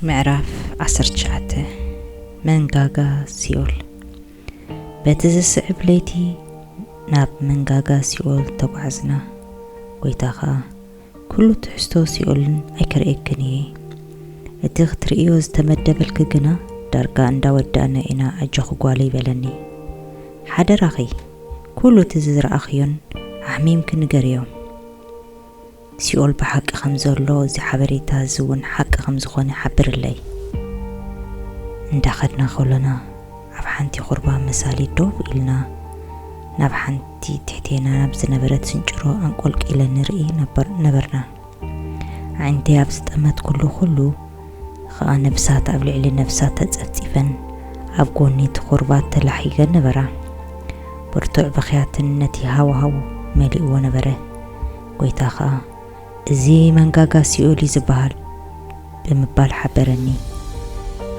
ምዕራፍ ዓሰርተ ትሽዓተ መንጋጋ ሲኦል በቲ ዝስዕብ ለይቲ ናብ መንጋጋ ሲኦል ተጓዕዝና። ጐይታ ኸኣ ኵሉ ትሕዝቶ ሲኦልን ኣይክርእየክን እየ፣ እቲ ኽትርእዮ ዝተመደበልኪ ግና ዳርጋ እንዳ ወዳእና ኢና ኣጆኺ ጓለይ በለኒ። ሓደራኺ ኵሉ እቲ ዝረኣኽዮን ኣሕሚምኪ ንገርዮም። ሲኦል ብሓቂ ከም ዘሎ እዚ ሓበሬታ እዚ እውን ሓቂ ከም ዝኾነ ሓብርለይ። እንዳ ከድና ከሎና ኣብ ሓንቲ ኩርባ መሳሊ ዶብ ኢልና ናብ ሓንቲ ትሕቴና ናብ ዝነበረት ስንጭሮ ኣንቆልቂለን ንርኢ ነበርና። ኣዒንተይ ኣብ ዝጠመትኩሉ ኩሉ ኸኣ ነብሳት ኣብ ልዕሊ ነብሳት ተጸፍጺፈን ኣብ ጎኒ እቲ ኩርባ ተላሒገን ነበራ። ብርቱዕ ብኽያትን ነቲ ሃዋህው መሊእዎ ነበረ። ጐይታ ኸኣ፣ እዚ መንጋጋ ሲኦል እዩ ዚበሃል ብምባል ሓበረኒ።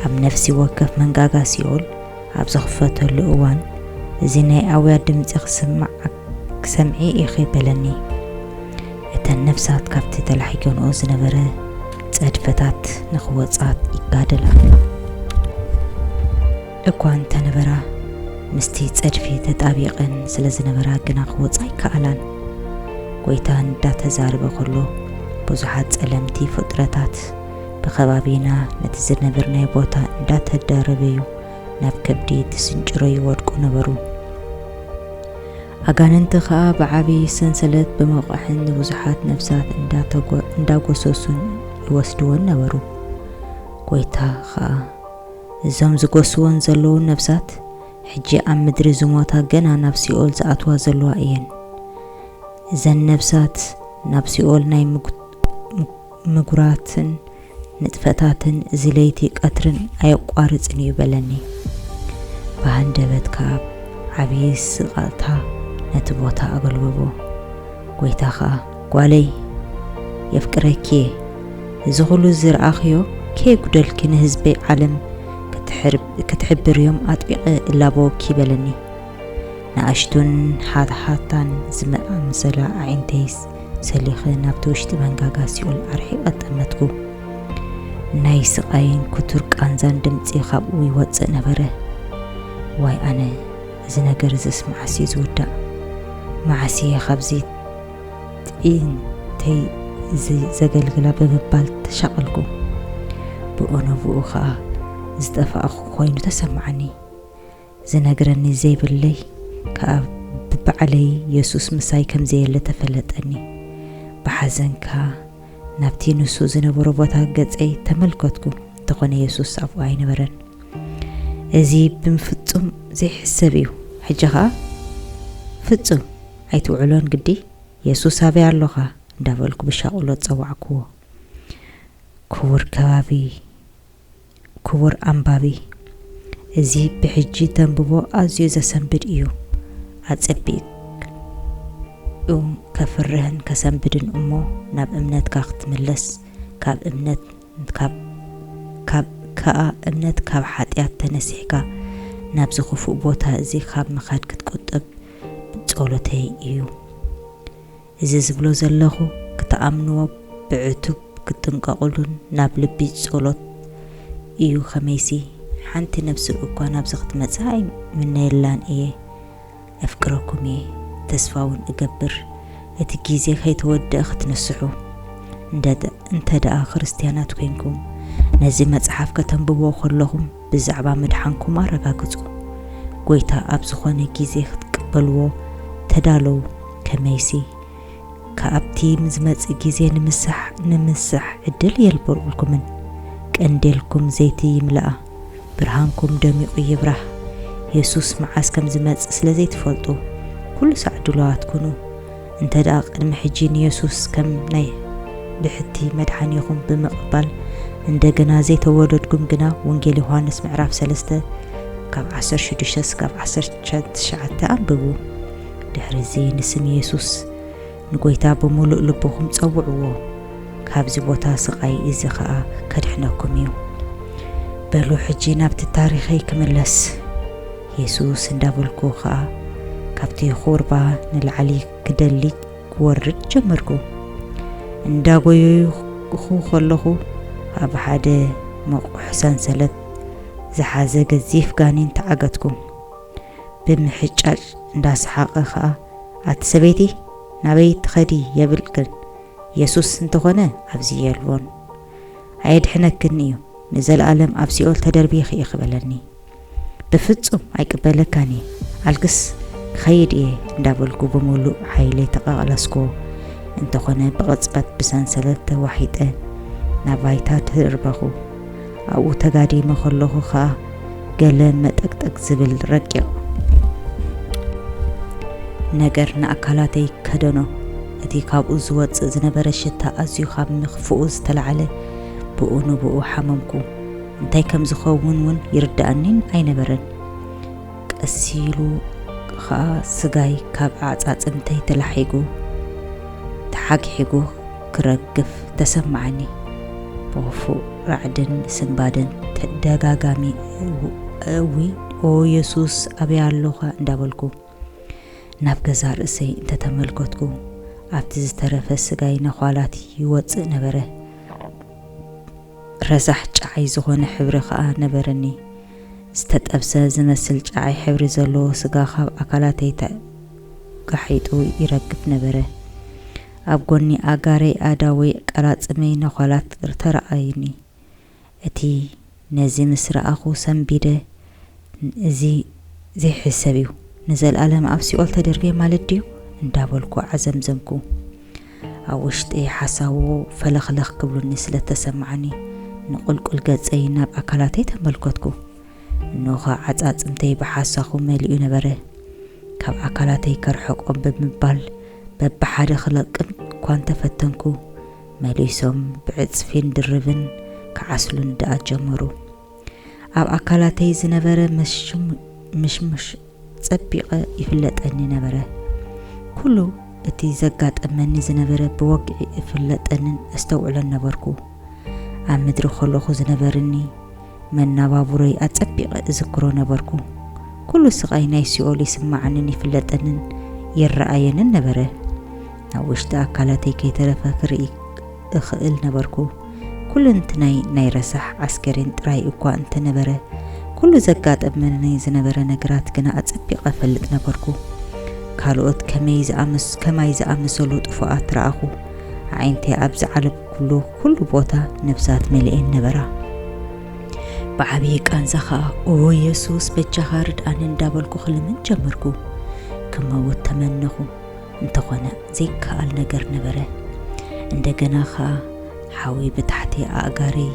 ኣብ ነፍሲ ወከፍ መንጋጋ ሲኦል ኣብ ዝኽፈተሉ እዋን፣ እዚ ናይ ኣውያት ድምጺ ኺስማዕ ክትሰምዒ ኢኺ በለኒ። እተን ነፍሳት ካብቲ ተላሒገንኦ ዝነበረ ጸድፍታት ንኽወጻ ይጋደላ። እኳ እንተ ነበራ፣ ምስቲ ጸድፊ ተጣቢቐን ስለ ዝነበራ ግና ክወጻ ኣይከኣላን። ጐይታ እንዳ ተዛረበ ከሎ፣ ብዙሓት ጸለምቲ ፍጥረታት ብከባቢና ነቲ ዝነበርናዮ ቦታ እንዳ ተደረበዩ ናብ ከብዲ ትስንጭሮ ይወድቁ ነበሩ። ኣጋንንቲ ከኣ ብዓቢ ሰንሰለት ብምቕዕን ንብዙሓት ነፍሳት እንዳ ተጎ እንዳጎሰሱን ይወስድወን ነበሩ። ጐይታ ከኣ እዞም ዝጎስዎን ዘለዉ ነፍሳት ሕጂ ኣብ ምድሪ ዝሞታ ገና ናብ ሲኦል ዝኣትዋ ዘለዋ እየን። እዘን ነፍሳት ናብ ሲኦል ናይ ምጉራትን ንጥፈታትን እዚ ለይቲ ቀትርን ኣየቋርጽን እዩ በለኒ። ብሃንደበት ከኣ ዓብዪ ስቕታ ነቲ ቦታ ኣገልበቦ። ጐይታ ከኣ ጓለይ የፍቅረኪየ እዚ ኩሉ ዝርኣኽዮ ከየጉደልኪ ንህዝበይ ዓለም ክትሕብርዮም ኣጥቢቐ እላበወኪ በለኒ። ንኣሽቱን ሃታሃታን ዝኣምሰላ ኣዒንተይስ ሰሊኸ ናብቲ ውሽጢ መንጋጋ ሲኦል ኣርሒቐ ጠመትኩ። ናይ ስቓይን ክቱር ቃንዛን ድምጺ ካብኡ ይወጽእ ነበረ። ዋይ ኣነ እዚ ነገር እዝስ መዓስ'ዩ ዝውዳእ? መዓስ'የ ካብዚ ጥይንተይ እዚ ዘገልግላ ብምባል ተሻቐልኩ። ብኡንብኡ ኸኣ ዝጠፋእኹ ዀይኑ ተሰምዓኒ። ዝነግረኒ ዘይብለይ ከኣ ብባዕለይ የሱስ ምሳይ ከም ዘየለ ተፈለጠኒ። ብሓዘን ከኣ ናብቲ ንሱ ዝነበሮ ቦታ ገጸይ ተመልከትኩ፣ እንተዀነ የሱስ ኣብኡ ኣይነበረን። እዚ ብፍጹም ዘይሕሰብ እዩ። ሕጂ ኸኣ ፍጹም ኣይትውዕሎን ግዲ? የሱስ ኣበይ ኣሎኻ? እንዳበልኩ ብሻቕሎት ጸዋዕኩዎ። ክቡር ከባቢ፣ ክቡር ኣንባቢ፣ እዚ ብሕጂ ተንብቦ ኣዝዩ ዘሰንብድ ኢዩ። ኣጸቢቑ ከፍርህን ከሰንብድን እሞ ናብ እምነትካ ክትምለስ ካብ እምነት ካብ ካብ ከኣ እምነት ካብ ሓጢኣት ተነሲሕካ ናብዚ ክፉእ ቦታ እዚ ካብ ምኻድ ክትቁጠብ ጸሎተይ እዩ እዚ ዝብሎ ዘለኹ ክትኣምንዎ ብዕቱብ ክትጥንቀቕሉን ናብ ልቢ ጸሎት እዩ ከመይሲ ሓንቲ ነብሲ እኳ ናብዚ ክትመጽእ ኣይምነየላን እየ እፍቅረኩም እየ ተስፋ ውን እገብር እቲ ግዜ ከይተወድኣ ክትንስሑ እንተ ደኣ ክርስትያናት ኮይንኩም ነዚ መጽሓፍ ከተንብብዎ ከለኹም ብዛዕባ ምድሓንኩም ኣረጋግጹ። ጐይታ ኣብ ዝዀነ ግዜ ክትቅበልዎ ተዳለዉ፣ ከመይሲ፣ ካብቲ ዝመጽእ ግዜ ንምሳሕ ንምስሳሕ ዕድል የልብርዑልኩምን። ቀንዴልኩም ዘይቲ ይምላእ፣ ብርሃንኩም ደሚቑ ይብራህ። የሱስ መዓስ ከም ዝመጽእ ስለ ዘይትፈልጡ፣ ኵሉ ሳዕ ድሉዋት ኩኑ። እንተ ደኣ ቅድሚ ሕጂ ንየሱስ ከም ናይ ብሕቲ መድሓኒኹም ብምቕባል እንደገና ዘይተወለድኩም ግና ወንጌል ዮሃንስ ምዕራፍ ሰለስተ ካብ ዓሰርተ ሽዱሽተ ስጋብ ዓሰርተ ትሽዓተ ኣንብቡ። ድሕርዚ ንስም የሱስ ንጎይታ ብምሉእ ልብኹም ጸውዕዎ። ካብዚ ቦታ ስቓይ እዚ ኸኣ ከድሕነኩም እዩ። በሉ ሕጂ ናብቲ ታሪኸይ ክምለስ። የሱስ እንዳበልኩ ኸኣ ካብቲ ዅርባ ንላዕሊ ክደሊ ክወርድ ጀመርኩ። እንዳጐየይኹ ኸለኹ ኣብ ሓደ መቝሕ ሰንሰለት ዝሓዘ ገዚፍ ጋኔን ተዓገትኩ። ብምሕጫጭ እንዳሰሓቐ ኸኣ ኣቲ ሰበይቲ ናበይ ትኸዲ የብልክን የሱስ እንተኾነ ኣብዚ የልቦን ኣየድሕነክን እዩ ንዘለኣለም ኣብ ሲኦል ተደርቢኺ ኢኺ በለኒ። በፍጹም ኣይቅበለካን እየ ኣልክስ ክኸይድ እየ እንዳበልኩ ብምሉእ ሓይለይ ተቐቕለስክዎ። እንተኾነ ብቕጽበት ብሰንሰለት ተዋሒጠ ናብ ባይታ ተደርበኹ። ኣብኡ ተጋዲመ ከለኹ ከኣ ገለ መጠቅጠቅ ዝብል ረቂቕ ነገር ንኣካላተይ ከደኖ። እቲ ካብኡ ዝወጽእ ዝነበረ ሽታ ኣዝዩ ካብ ምኽፍኡ ዝተላዕለ ብኡ ንብኡ ሓመምኩ። እንታይ ከም ዝኸውን እውን ይርድኣኒን ኣይነበረን። ቀስ ኢሉ ኸኣ ስጋይ ካብ ኣዕጻጽምተይ ተላሒጉ ተሓግሒጉ ክረግፍ ተሰማዓኒ። ብኽፉእ ራዕድን ስንባደን ተደጋጋሚ እውይ ኦ የሱስ ኣበይ ኣሎኻ እንዳበልኩ ናብ ገዛእ ርእሰይ እንተተመልከትኩ ኣብቲ ዝተረፈ ስጋይ ነዃላት ይወጽእ ነበረ። ረሳሕ ጨዓይ ዝኾነ ሕብሪ ከኣ ነበረኒ። ዝተጠብሰ ዝመስል ጨዓይ ሕብሪ ዘለዎ ስጋ ካብ ኣካላተይ ተጋሒጡ ይረግፍ ነበረ። ኣብ ጎኒ ኣእጋረይ ኣእዳወይ ቀላጽመይ ነዃላት ተራኣዩኒ። እቲ ነዚ ምስ ረኣኹ ሰንቢደ። እዚ ዘይሕሰብ እዩ፣ ንዘልኣለም ኣብ ሲኦል ተደርብየ ማለት ድዩ? እንዳበልኩ ዓዘምዘምኩ። ኣብ ውሽጠይ ሓሳቦ ፈለኽለኽ ክብሉኒ ስለ እተሰማዓኒ፣ ንቁልቁል ገጸይ ናብ ኣካላተይ ተመልከትኩ። እንሆኸ ዓጻጽምተይ ብሓሳኹ መሊኡ ነበረ። ካብ ኣካላተይ ከርሕቆም ብምባል በብሓደ ክለቅም እኳ እንተ ፈተንኩ፣ መሊሶም ብዕጽፊን ድርብን ክዓስሉኒ ደኣ ጀመሩ። ኣብ ኣካላተይ ዝነበረ ምሽሙሽ ጸቢቐ ይፍለጠኒ ነበረ። ኩሉ እቲ ዘጋጠመኒ ዝነበረ ብወግዒ እፍለጠንን እስተውዕሎን ነበርኩ። ኣብ ምድሪ ከሎኹ ዝነበርኒ መናባቡሮይ ኣጸቢቐ እዝክሮ ነበርኩ። ኩሉ ስቓይ ናይ ሲኦል ይስማዓንን ይፍለጠንን ይረኣየንን ነበረ። ናብ ውሽጢ ኣካላተይ ከይተረፈ ክርኢ እኽእል ነበርኩ። ኩሉንትናይ ናይ ረሳሕ ዓስከሬን ጥራይ እኳ እንተ ነበረ፣ ኩሉ ዘጋጠመኒ ዝነበረ ነገራት ግና ኣጸቢቐ እፈልጥ ነበርኩ። ካልኦት ከማይ ዝኣመሰሉ ጥፉኣት ረኣኹ። ኣዒንተይ ኣብ ዝዓለብኩሉ ኩሉ ቦታ ነፍሳት መሊኤን ነበራ። ብዓብዪ ቃንዛ ኸኣ ኦ የሱስ በጃኻ ርድኣኒ እንዳበልኩ ክልምን ጀመርኩ። ክመውት ተመነኹ። እንተኾነ ዘይከኣል ነገር ነበረ። እንደገና ኸኣ ሓዊ ብታሕቲ ኣእጋረይ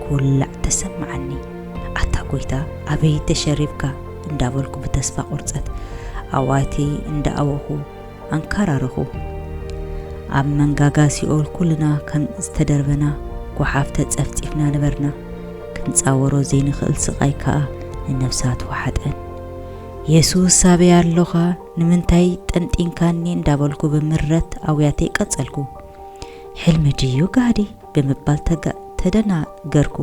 ክውላዕ ተሰምዓኒ። ኣታ ጐይታ ኣበይ ተሸሪብካ? እንዳበልኩ ብተስፋ ቁርጸት ኣዋትይ እንዳኣወኹ ኣንካራረኹ። ኣብ መንጋጋ ሲኦል ኩልና ከም ዝተደርበና ጓሓፍ ተጸፍጺፍና ነበርና። ክንጻወሮ ዘይንኽእል ስቓይ ከኣ ንነፍሳት ወሓጠን። የሱስ ኣበይ ኣሎኻ? ንምንታይ ጠንጢንካኒ እንዳበልኩ ብምረት ኣውያተይ ቀጸልኩ። ሕልሚ ድዩ ጋህዲ? ብምባል ተደናገርኩ።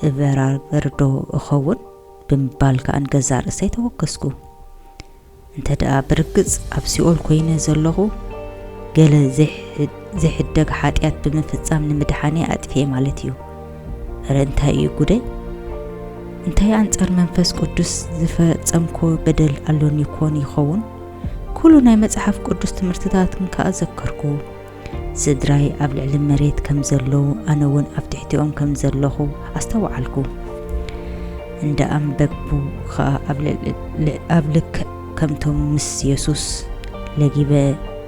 እበራበርዶ እኸውን? ብምባል ከኣ ንገዛእ ርእሰይ ተወከስኩ። እንተደኣ ብርግጽ ኣብ ሲኦል ኮይነ ዘለኹ ገለ ዘይሕደግ ሓጢኣት ብምፍጻም ንምድሓነይ ኣጥፍኤ ማለት እዩ። እረ እንታይ እዩ ጉደይ እንታይ ኣንጻር መንፈስ ቅዱስ ዝፈጸምኮ በደል ኣሎኒ ኮን ይኸውን ኩሉ ናይ መጽሓፍ ቅዱስ ትምህርትታትን ከኣ ዘከርኩ ስድራይ ኣብ ልዕሊ መሬት ከም ዘለዉ ኣነ እውን ኣብ ትሕቲኦም ከም ዘለኹ ኣስተውዓልኩ እንዳ ኣንበብኩ ከኣ ኣብ ልክ ከምቶም ምስ የሱስ ለጊበ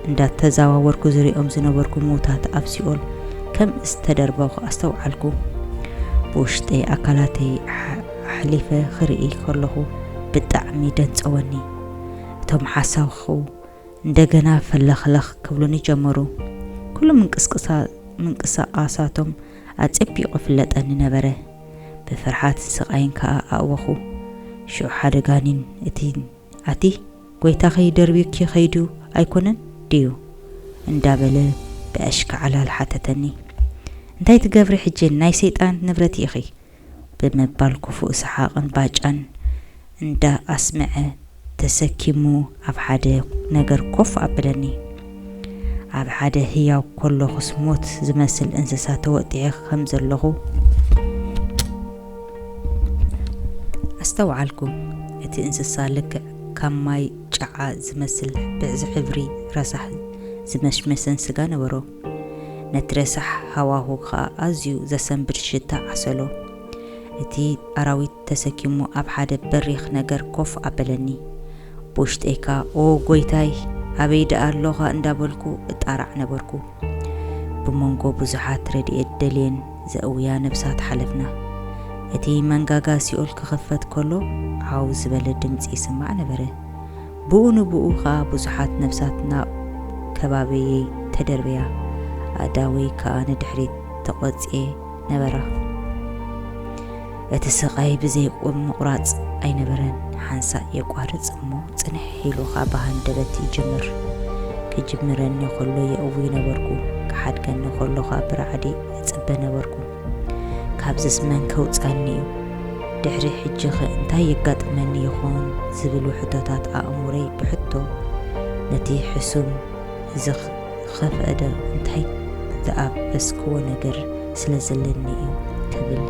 እንዳተዛዋወርኩ ዝርእዮም ዝነበርኩ ምዉታት ኣብ ሲኦል ከም ዝተደርበኹ ኣስተውዓልኩ። ብውሽጠይ ኣካላተይ ኣሕሊፈ ክርኢ ከለኹ ብጣዕሚ ደንጸወኒ። እቶም ሓሳኹ እንደገና ፈለኽለኽ ክብሉኒ ጀመሩ። ኩሉ ምንቅስቓሳቶም ኣጸቢቑ ይፍለጠኒ ነበረ። ብፍርሓት ስቃይን ከኣ ኣእወኹ። ሽዑ ሓደ ጋኒን እቲ ኣቲ ጎይታኺ ደርብዩኪ ከይዱ ኣይኮነን ድዩ? እንዳበለ ብኣሽካዕላል ሓተተኒ። እንታይ ትገብሪ ሕጂ ናይ ሰይጣን ንብረት ኢኺ! ብምባል ክፉእ ሰሓቕን ባጫን እንዳኣስመዐ ተሰኪሙ ኣብ ሓደ ነገር ኮፍ ኣብለኒ። ኣብ ሓደ ህያው ኮሎኹስ ሞት ዝመስል እንስሳ ተወጢሐ ከም ዘሎኹ ኣስተውዓልኩ። እቲ እንስሳ ልክዕ ከም ማይ ጨዓ ዝመስል ብዕዚ ሕብሪ ረሳሕ ዝመሽመሰን ስጋ ነበሮ። ነቲ ረሳሕ ሃዋሁ ከኣ ኣዝዩ ዘሰንብድ ሽታ ዓሰሎ እቲ ኣራዊት ተሰኪሙ ኣብ ሓደ በሪኽ ነገር ኮፍ ኣበለኒ። ብውሽጠይ ከኣ ኦ ጐይታይ! ኣበይ ደኣ ኣሎኻ እንዳበልኩ እጣራዕ ነበርኩ። ብመንጎ ብዙሓት ረድኤት ደልየን ዘእውያ ነብሳት ሓለፍና። እቲ መንጋጋ ሲኦል ክኽፈት ከሎ ዓው ዝበለ ድምጺ ይስማዕ ነበረ። ብኡ ንብኡ ከኣ ብዙሓት ነብሳት ናብ ከባበየይ ተደርበያ። ኣእዳወይ ከኣ ንድሕሪት ተቖጽየ። ነበረ። እቲ ስቓይ ብዘይቁም ምቑራጽ ኣይነበረን፣ ሓንሳእ የቋርጽ እሞ ጽንሕ ኢሉ ኸኣ ብሃንደበት ይጅምር። ክጅምረኒ ኸሎ የእዊ ነበርኩ፣ ክሓድገኒ ኸሎ ኸኣ ብራዕዲ እጽበ ነበርኩ። ካብዝስ መን ከውጽኣኒ እዩ? ድሕሪ ሕጂኸ እንታይ የጋጥመኒ ይኸውን? ዝብሉ ሕቶታት ኣእምሮይ ብሕቶ ነቲ ሕሱም ዝኽ ዝኸፈእዶ እንታይ ዝኣበስክዎ ነገር ስለ ዘለኒ እዩ ትብል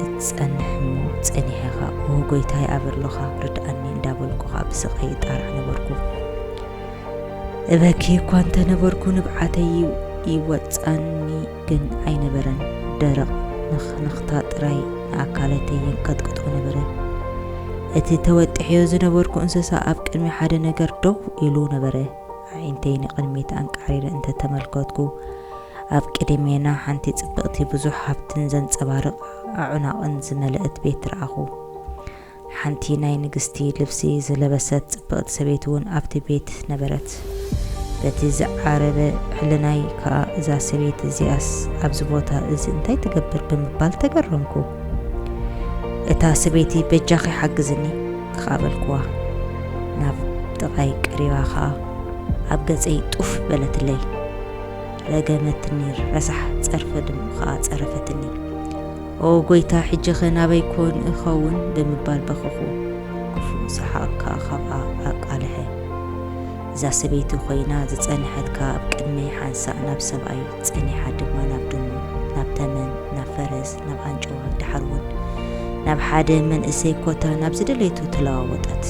እትጸንሕ እሞ ጸኒሐ ኸኣ ኦ ጐይታይ ኣበሎኻ ርድኣኒ እንዳበልኩ ኸኣ ብስቓይ እጣራዕ ነበርኩ። እበኪ እኳ እንተ ነበርኩ ንብዓተይ ይወጻኒ። ግን ኣይነበረን ደረቕ ንኽንኽታ ጥራይ ንኣካለተይ የንቀጥቅጦ ነበረ። እቲ ተወጢሐዮ ዝነበርኩ እንስሳ ኣብ ቅድሚ ሓደ ነገር ደው ኢሉ ነበረ። ኣዒንተይ ንቕድሚት ኣንቃዕሪረ እንተ ተመልከትኩ፣ ኣብ ቅድሜና ሓንቲ ጽብቕቲ ብዙሕ ሃብትን ዘንጸባርቕ ኣዕናቕን ዝመለእት ቤት ረኣኹ። ሓንቲ ናይ ንግስቲ ልብሲ ዝለበሰት ጽብቕቲ ሰበይቲ እውን ኣብቲ ቤት ነበረት። በቲ ዝዓረበ ሕልናይ ከኣ እዛ ሰበይቲ እዚኣስ ኣብዚ ቦታ እዚ እንታይ ትገብር ብምባል ተገረምኩ። እታ ሰበይቲ በጃኺ ሓግዝኒ ከኣ በልኩዋ። ናብ ጥቓይ ቀሪባ ከኣ ኣብ ገጸይ ጡፍ በለትለይ። ረገመትኒ፣ ረሳሕ ጸርፊ ድሙ ከኣ ጸረፈትኒ። ኦ ጐይታ፣ ሕጂኸ ናበይ ኰን እኸውን? ብምባል በኸኹ። ክፉእ ሰሓቕ ከኣ ካብኣ ኣቃልሐ። እዛ ሰበይቲ ኰይና ዝጸንሐት ከኣ ኣብ ቅድመይ ሓንሳእ ናብ ሰብኣይ፣ ጸኒሓ ድማ ናብ ድሙ፣ ናብ ተመን፣ ናብ ፈረስ፣ ናብ ኣንጭዋ፣ ደሓር'ውን ናብ ሓደ መንእሰይ ኮታ ናብ ዝደለየቶ ተለዋወጠት።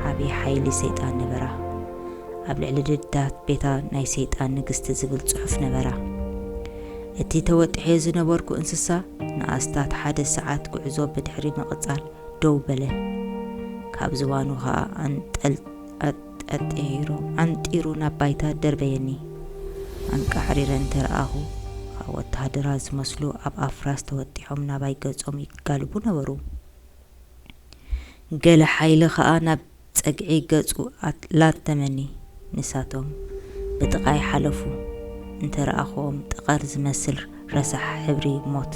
ዓብዪ ሓይሊ ሰይጣን ነበራ። ኣብ ልዕሊ ደድታት ቤታ ናይ ሰይጣን ንግስቲ ዝብል ጽሑፍ ነበራ። እቲ ተወጢሐዮ ዝነበርኩ እንስሳ ንኣስታት ሓደ ሰዓት ጉዕዞ ብድሕሪ ምቕጻል ደው በለ። ካብ ዝባኑ ኸኣ ኣጠጢሩ ዓንጢሩ ናብ ባይታ ደርበየኒ። ኣንቃዕሪረ እንተ ረኣኹ ኸኣ ወተሃደራት ዝመስሉ ኣብ ኣፍራስ ተወጢሖም ናባይ ገጾም ይጋልቡ ነበሩ። ገለ ሓይሊ ኸኣ ናብ ጸግዒ ገጹ ላተመኒ ንሳቶም ብጥቓይ ሓለፉ እንተ ረኣኹዎም ጠቐር ዝመስል ረሳሕ ሕብሪ ሞት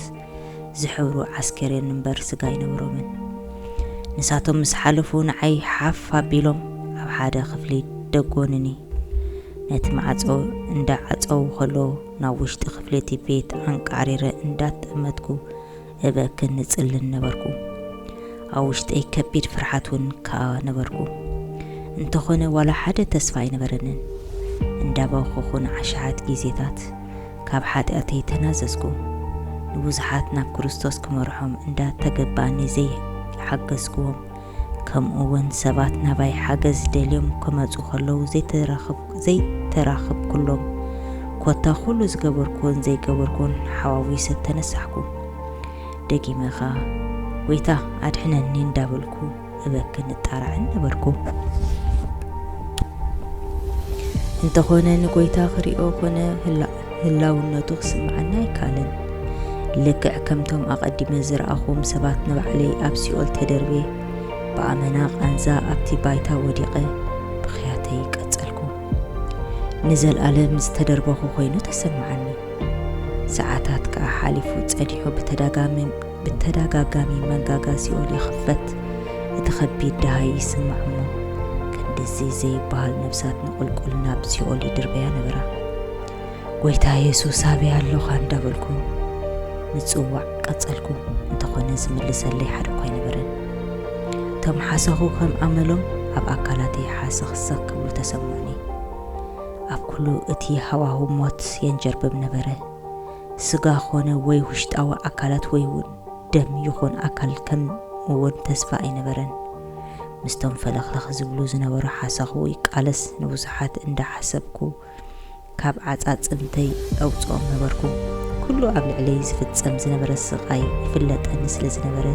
ዝሕብሩ ዓስከሬን እምበር ስጋ ኣይነበሮምን ንሳቶም ምስ ሓለፉ ንዓይ ሓፍ ኣቢሎም ኣብ ሓደ ክፍሊ ደጎኑኒ ነቲ ማዕጾ እንዳ ዓጸዉ ከለዉ ናብ ውሽጢ ክፍሊ እቲ ቤት ኣንቃዕሪረ እንዳተጠመትኩ እበክን እጽልን ነበርኩ። ኣብ ውሽጠይ ከቢድ ፍርሓት እውን ከኣ ነበርኩ። እንተኾነ ዋላ ሓደ ተስፋ ኣይነበረንን። እንዳበኸኹ ንዓሻሓት ጊዜታት ካብ ሓጢኣተይ ተናዘዝኩ። ንብዙሓት ናብ ክርስቶስ ክመርሖም እንዳ ተገባኣኒ ዘይሓገዝኩዎም ከምኡ'ውን ሰባት ናባይ ሓገዝ ደልዮም ክመጹ ከለዉ ዘይተራኽብኩሎም፣ ኮታ ኩሉ ዝገበርኩዎን ዘይገበርኩዎን ሓዋዊሰ ተነሳሕኩ። ደጊመ ከኣ ጎይታ ኣድሕነኒ እንዳበልኩ እበክን እጣራዕን ነበርኩ። እንተኾነ ንጎይታ ክሪኦ ኮነ ህላቁ ህላውነቱ ክስምዓና ኣይካልን። ልክዕ ከምቶም ኣቐዲመ ዝረኣኹዎም ሰባት ንባዕለይ ኣብ ሲኦል ተደርብየ፣ ብኣመና ቃንዛ ኣብቲ ባይታ ወዲቐ ብኽያተይ ቀጸልኩ። ንዘልኣለም ዝተደርበኹ ኮይኑ ተሰምዓኒ። ሰዓታት ከኣ ሓሊፉ ጸኒሑ ብተዳጋሚ። ብተዳጋጋሚ መንጋጋ ሲኦል ይኽፈት እቲ ከቢድ ደሃይ ይስማዕ እሞ ክንድዚ ዘይባሃል ነብሳት ንቁልቁል ናብ ሲኦል ይድርበያ ነበራ ጎይታ የሱስ ኣበይ ኣሎኻ እንዳበልኩ ምጽዋዕ ቀጸልኩ እንተኾነ ዝምልሰለይ ሓደኳ ኣይነበረን እቶም ሓሰኹ ከም ኣመሎም ኣብ ኣካላተይ ሓሰኽሰኽ ክብሉ ተሰምዑኒ ኣብ ኩሉ እቲ ሃዋሁ ሞት የንጀርብብ ነበረ ስጋ ኮነ ወይ ውሽጣዊ ኣካላት ወይ'ውን ደም ይኹን ኣካል ከም'ውን ተስፋ ኣይነበረን። ምስቶም ፈለኽለኽ ዝብሉ ዝነበሩ ሓሳኹ ይቃለስ ንብዙሓት እንዳ ሓሰብኩ ካብ ዓጻጽምተይ ኣውጽኦም ነበርኩ። ኩሉ ኣብ ልዕለይ ዝፍጸም ዝነበረ ስቓይ ይፍለጠኒ ስለ ዝነበረ።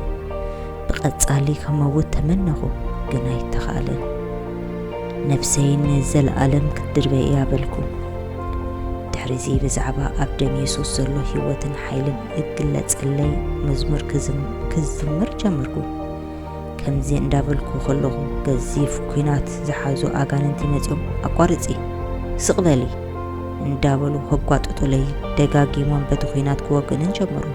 ብቐጻሊ ክመውት ተመነኹ፣ ግን ኣይተኻእለን። ነፍሰይ ንዘለኣለም ክትድርበይ እያ በልኩ። ድሕሪዚ ብዛዕባ ኣብ ደም የሱስ ዘሎ ህይወትን ሓይልን እግለጸለይ መዝሙር ክዝምር ጀመርኩ። ከምዚ እንዳበልኩ ከለኹ ገዚፍ ኩናት ዝሓዙ ኣጋንንቲ መጺኦም ኣቋርጺ፣ ስቕ በሊ እንዳበሉ ከጓጥጡለይ ደጋጊሞም በቲ ኩናት ክወግእንን ጀመሩ።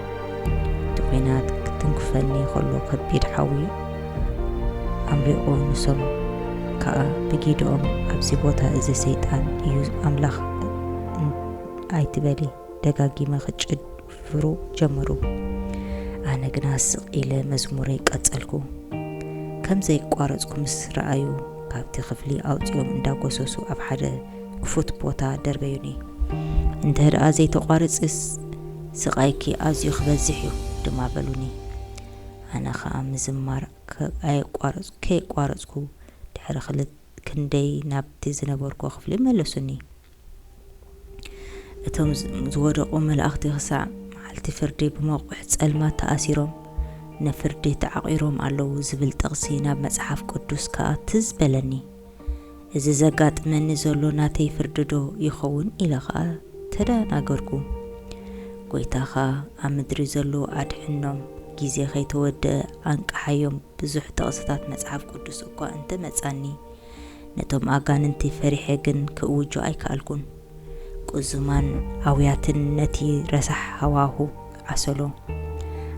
እቲ ኲናት ክትንክፈኒ ከሎ ከቢድ ሓዊ ኣምሪቑ ንሶም ከኣ ብጊድኦም ኣብዚ ቦታ እዚ ሰይጣን እዩ ኣምላኽ ኣይትበሊ ደጋጊመ ክጭፍሩ ጀመሩ ኣነ ግና ስቕ ኢለ መዝሙረይ ቀጸልኩ ከም ዘይቋረጽኩ ምስ ረኣዩ ካብቲ ክፍሊ ኣውጺኦም እንዳጎሰሱ ኣብ ሓደ ክፉት ቦታ ደርበዩኒ እንተድኣ ዘይተቋርጽስ ስቓይኪ ኣዝዩ ክበዝሕ እዩ ድማ በሉኒ። ኣነ ከኣ ምዝማር ከየቋረጽኩ ድሕሪ ክልተ ክንደይ ናብቲ ዝነበርኩዎ ክፍሊ መለሱኒ። እቶም ዝወደቑ መላእኽቲ ክሳዕ መዓልቲ ፍርዲ ብመቑሕ ጸልማት ተኣሲሮም ንፍርዲ ተዓቚሮም ኣለዉ ዝብል ጥቕሲ ናብ መጽሓፍ ቅዱስ ከኣ ትዝ በለኒ። እዚ ዘጋጥመኒ ዘሎ ናተይ ፍርዲዶ ይኸውን? ኢለ ኸኣ ተደናገርኩ። ጐይታኻ ኣብ ምድሪ ዘለዉ ኣድሕኖም፣ ግዜ ኸይተወድአ ኣንቅሓዮም ብዙሕ ጥቕስታት መጽሓፍ ቅዱስ እኳ እንተ መጻኒ፣ ነቶም ኣጋንንቲ ፈሪሐ ግን ክእውጆ ኣይከኣልኩን። ቁዝማን ኣውያትን ነቲ ረሳሕ ሃዋሁ ኣሰሎ።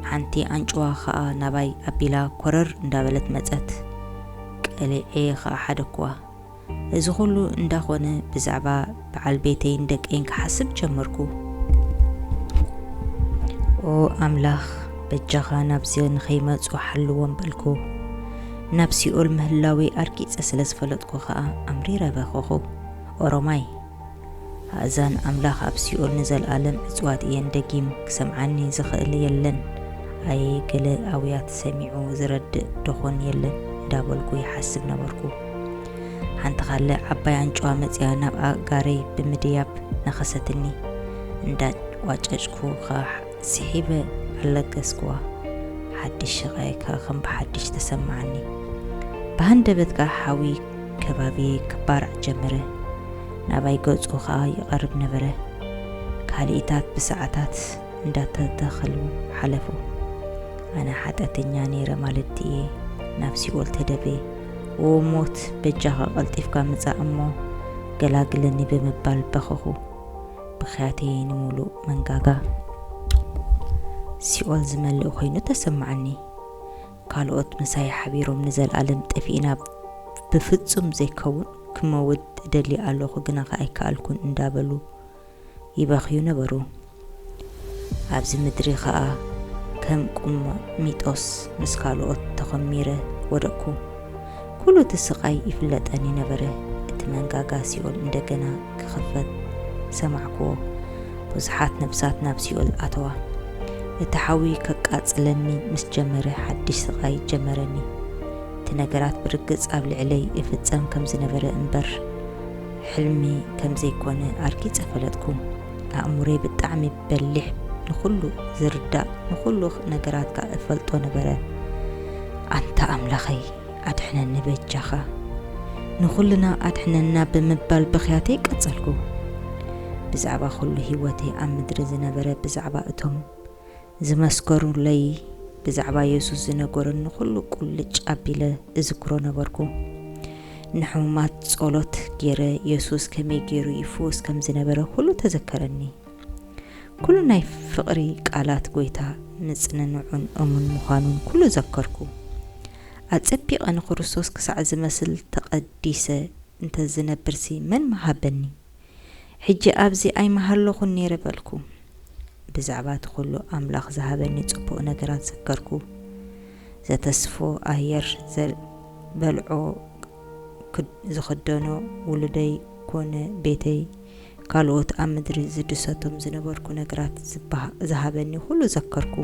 ሓንቲ ኣንጭዋ ከኣ ናባይ ኣቢላ ኮረር እንዳበለት መጸት። ቀሊዔ ከኣ ሓደኩዋ። እዚ ኩሉ እንዳኾነ ብዛዕባ በዓል ቤተይን ደቀይን ክሓስብ ጀመርኩ። ኦ ኣምላኽ በጃኻ ናብዚ ንኸይመጹ ሓልዎም በልኩ። ናብ ሲኦል ምህላወይ ኣርጊጸ ስለ ዝፈለጥኩ ከኣ ኣምሪረ በኸኹ። ኦሮማይ ኣእዛን ኣምላኽ ኣብ ሲኦል ንዘልኣለም ዕጽዋት እየን ደጊም ክሰምዓኒ ዝኽእል የለን ኣየ ገለ ኣውያት ሰሚዑ ዝረድእ ዶኾን የለን እንዳበልኩ ይሓስብ ነበርኩ ሓንቲ ካለ ዓባይ ኣንጭዋ መጽያ ናብ ኣእጋረይ ብምድያብ ነኸሰትኒ እንዳ ቋጨጭኩ ከ ስሒበ ኣለገስኩዋ ሓድሽ ሸቃይ ከ ከም ብሓድሽ ተሰማዓኒ ብሃንደበትካ ሓዊ ከባቢየይ ክባራዕ ጀመረ፣ ናባይ ገጹ ከኣ ይቐርብ ነበረ። ካልኢታት ብሰዓታት እንዳተተኸሉ ሓለፉ። ኣነ ሓጥያተኛ ነይረ ማለት ድየ? ናብ ሲኦል ተደፌ። ኦ ሞት! በጃኻ ቀልጢፍካ ምጻእ እሞ ገላግለኒ ብምባል በኸኹ። ብኽያተይ ንምሉእ መንጋጋ ሲኦል ዝመልእ ኮይኑ ተሰማዓኒ። ካልኦት ምሳይ ሓቢሮም ንዘልኣለም ጠፊእና ብፍጹም ዘይከውን ክመውት እደሊ ኣሎኹ ግናኸ ኣይከኣልኩን እንዳበሉ ይበኽዩ ነበሩ። ኣብዚ ምድሪ ኸኣ ከም ቁሚጦስ ምስ ካልኦት ተኾሚረ ወደቅኩ። ኩሉ እቲ ስቓይ ይፍለጠኒ ነበረ፣ እቲ መንጋጋ ሲኦል እንደገና ክኽፈት ሰማዕክዎ፣ ብዙሓት ነፍሳት ናብ ሲኦል ኣተዋ። እቲ ሓዊ ከቃጽለኒ ምስ ጀመረ ሓድሽ ስቓይ ጀመረኒ። እቲ ነገራት ብርግጽ ኣብ ልዕለይ ይፍጸም ከም ዝነበረ እምበር ሕልሚ ከም ዘይኮነ ኣርጊጸ ፈለጥኩ። ኣእምሮይ ብጣዕሚ በሊሕ ንኹሉ ዝርዳእ ንኹሉ ነገራትካ እፈልጦ ነበረ ኣንታ ኣምላኸይ ኣድሕነኒ በጃኻ ንኹልና ኣድሕነና ብምባል ብኽያተይ ቀጸልኩ ብዛዕባ ኩሉ ህይወተይ ኣብ ምድሪ ዝነበረ ብዛዕባ እቶም ዝመስከሩለይ ብዛዕባ የሱስ ዝነገሩኒ ኩሉ ቁልጭ ኣቢለ እዝክሮ ነበርኩ ንሕሙማት ጸሎት ገይረ የሱስ ከመይ ገይሩ ይፍውስ ከም ዝነበረ ኩሉ ተዘከረኒ ኩሉ ናይ ፍቕሪ ቃላት ጐይታ ምጽንንዑን እሙን ምዃኑን ኩሉ ዘከርኩ። ኣጸቢቐ ንክርስቶስ ክሳዕ ዝመስል ተቐዲሰ እንተ ዝነብርሲ መን ምሃበኒ? ሕጂ ኣብዚ ኣይምሃለኹን ነይረ በልኩ። ብዛዕባ እቲ ኩሉ ኣምላኽ ዝሃበኒ ጽቡቕ ነገራት ዘከርኩ። ዘተስፎ ኣየር ዝበልዖ ዝኽደኖ ውሉደይ ኮነ ቤተይ ካልኦት ኣብ ምድሪ ዝድሰቶም ዝነበርኩ ነገራት ዝሃበኒ ኹሉ ዘከርኩ።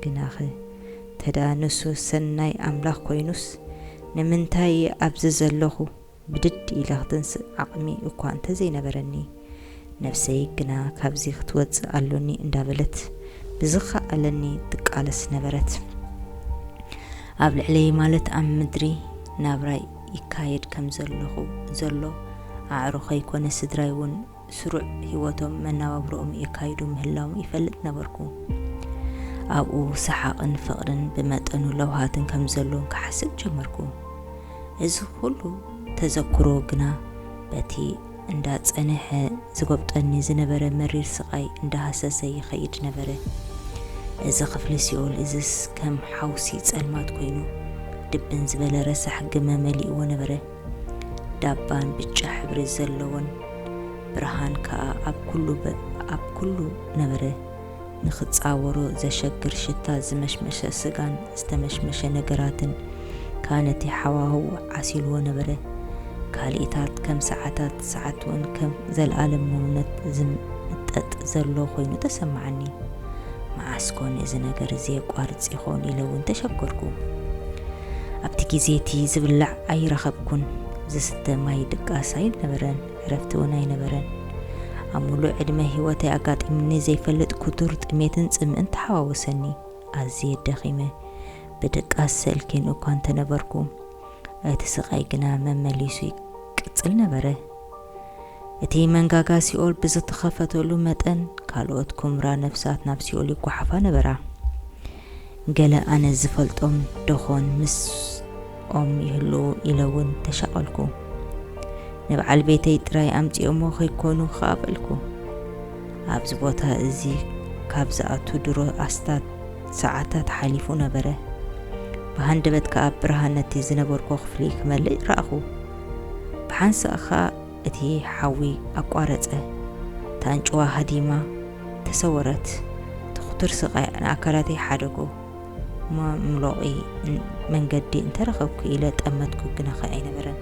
ግናኸ እንተድኣ ንሱ ሰናይ ኣምላኽ ኮይኑስ፣ ንምንታይ እየ ኣብዚ ዘለኹ? ብድድ ኢለ ኽትንስእ ዓቕሚ እኳ እንተ ዘይነበረኒ፣ ነፍሰይ ግና ካብዚ ኽትወጽእ ኣሎኒ እንዳበለት ብዝከኣለኒ ትቃለስ ነበረት። ኣብ ልዕለይ ማለት ኣብ ምድሪ ናብራይ፣ ይካየድ ከም ዘለኹ ዘሎ ኣዕሩኸይ ኮነ ስድራይ ውን ስሩዕ ህይወቶም መናባብሮኦም የካይዱ ምህላዎም ይፈልጥ ነበርኩ። ኣብኡ ሰሓቕን ፍቕርን ብመጠኑ ለውሃትን ከም ዘሎን ክሓስብ ጀመርኩ። እዚ ኹሉ ተዘክሮ ግና በቲ እንዳጸነሐ ዝጎብጠኒ ዝነበረ መሪር ስቓይ እንዳሃሰሰ ይኸይድ ነበረ። እዚ ክፍሊ ሲኦል እዝስ ከም ሓውሲ ጸልማት ኮይኑ ድብን ዝበለ ረሳሕ ግመ መሊእዎ ነበረ። ዳባን ብጫ ሕብሪ ዘለዎን ብርሃን ከኣ ኣብ ኩሉ ነበረ። ንኽጻወሮ ዘሸግር ሽታ ዝመሽመሸ ስጋን ዝተመሽመሸ ነገራትን ከኣ ነቲ ሃዋህው ዓሲልዎ ነበረ። ካልኢታት ከም ሰዓታት፣ ሰዓት'ውን ከም ዘልኣለም መንነት ዝምጠጥ ዘሎ ኮይኑ ተሰማዓኒ። መዓስ ኮን እዚ ነገር እዚ የቋርጽ ይኾን ኢለ'ውን ተሸገርኩ። ኣብቲ ግዜ'ቲ ዝብላዕ ኣይረኸብኩን፣ ዝስተ ማይ ድቃስ ኣይነበረን። ዕረፍቲ እውን ኣይነበረን። ኣብ ምሉእ ዕድመ ህይወተይ ኣጋጢሙኒ ዘይፈልጥ ክቱር ጥሜትን ጽምእን ተሓዋወሰኒ። ኣዝየ ደኺመ፣ ብድቃስ ሰልክየን እኳ እንተ ነበርኩ፣ እቲ ስቓይ ግና መመሊሱ ይቅጽል ነበረ። እቲ መንጋጋ ሲኦል ብዝተኸፈተሉ መጠን፣ ካልኦት ኵምራ ነፍሳት ናብ ሲኦል ይጓሓፋ ነበራ። ገለ ኣነ ዝፈልጦም ደኾን ምስኦም ይህልዉ ኢለ ውን ተሻቐልኩ። ንብዓል ቤተይ ጥራይ ኣምጺኦሞ ከይኮኑ ክኣ በልኩ። ኣብዚ ቦታ እዚ ካብ ዝኣቱ ድሮ ኣስታት ሰዓታት ሓሊፉ ነበረ። ብሃንደበት ክኣ ብርሃን ነቲ ዝነበርኩ ክፍሊ ክመልእ ረኣኹ። ብሓንሳእ ክኣ እቲ ሓዊ ኣቋረጸ። እታ ኣንጭዋ ሃዲማ ተሰወረት። እቲ ኩቱር ስቓይ ንኣካላተይ ሓደጎ። መምሎቒ መንገዲ እንተ ረኸብኩ ኢለ ጠመትኩ፣ ግናኸ ኣይነበረን።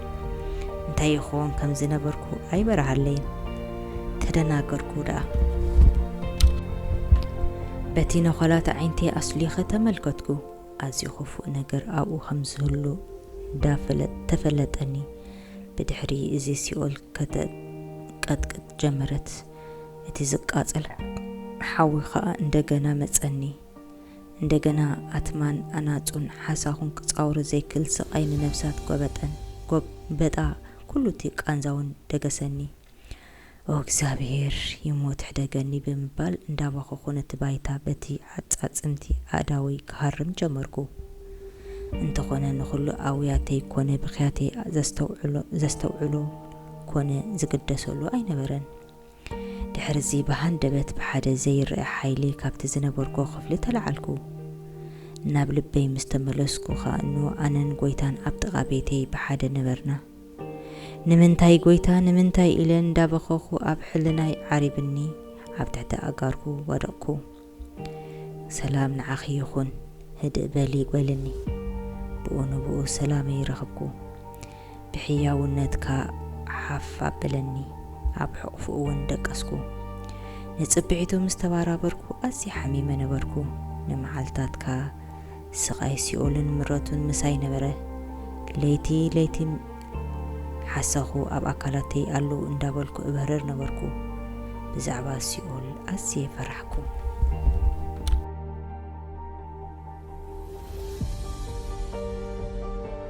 እንታይ ይኸውን ከም ዝነበርኩ ኣይበርሃለይን። ተደናገርኩ ደኣ። በቲ ነዃላት ኣዒንተይ ኣስሊኸ ተመልከትኩ። ኣዝዩ ክፉእ ነገር ኣብኡ ከም ዝህሉ ተፈለጠኒ። ብድሕሪ እዚ ሲኦል ከተንቀጥቅጥ ጀመረት፣ እቲ ዝቃጸል ሓዊ ኸኣ እንደገና መጸኒ። እንደገና ኣትማን ኣናጹን ሓሳኹን ክጻወሮ ዘይክእል ስቓይ ንነፍሳት ጐበጠን፣ ጐበጣ ኵሉ እቲ ቃንዛውን ደገሰኒ። ኦ እግዚኣብሄር ይሞት ሕደገኒ ብምባል እንዳበኸኹ ነቲ ባይታ በቲ ዓጻጽምቲ ኣእዳወይ ክሃርም ጀመርኩ። እንተኾነ ንኹሉ ኣውያተይ ኮነ ብኽያተይ ዘስተውዕሎ ዘስተውዕሎ ኮነ ዝግደሰሉ ኣይነበረን። ድሕርዚ ብሃንደበት ብሓደ ዘይረኣ ሓይሊ ካብቲ ዝነበርኩ ክፍሊ ተላዓልኩ። ናብ ልበይ ምስ ተመለስኩ ከኣ እኖ ኣነን ጎይታን ኣብ ጥቓ ቤተይ ብሓደ ነበርና። ንምንታይ ጎይታ ንምንታይ ኢለ እንዳበኸኹ ኣብ ሕልናይ ዓሪብኒ ኣብ ትሕቲ ኣእጋርኩ ወደቕኩ ሰላም ንዓኺ ይኹን ህድእ በሊ በልኒ ብኡ ንብኡ ሰላመይ ረኽብኩ ብሕያውነትካ ሓፍ ኣበለኒ ኣብ ሕቕፉ እውን ደቀስኩ ንጽብሒቱ ምስ ተባራበርኩ ኣዝየ ሓሚመ ነበርኩ ንመዓልታትካ ስቓይ ሲኦልን ምረቱን ምሳይ ነበረ። ለይቲ ለይቲ ሓሳኹ ኣብ ኣካላተይ ኣሎ እንዳበልኩ እበርር ነበርኩ። ብዛዕባ ሲኦል ኣዝየ ፈራሕኩ።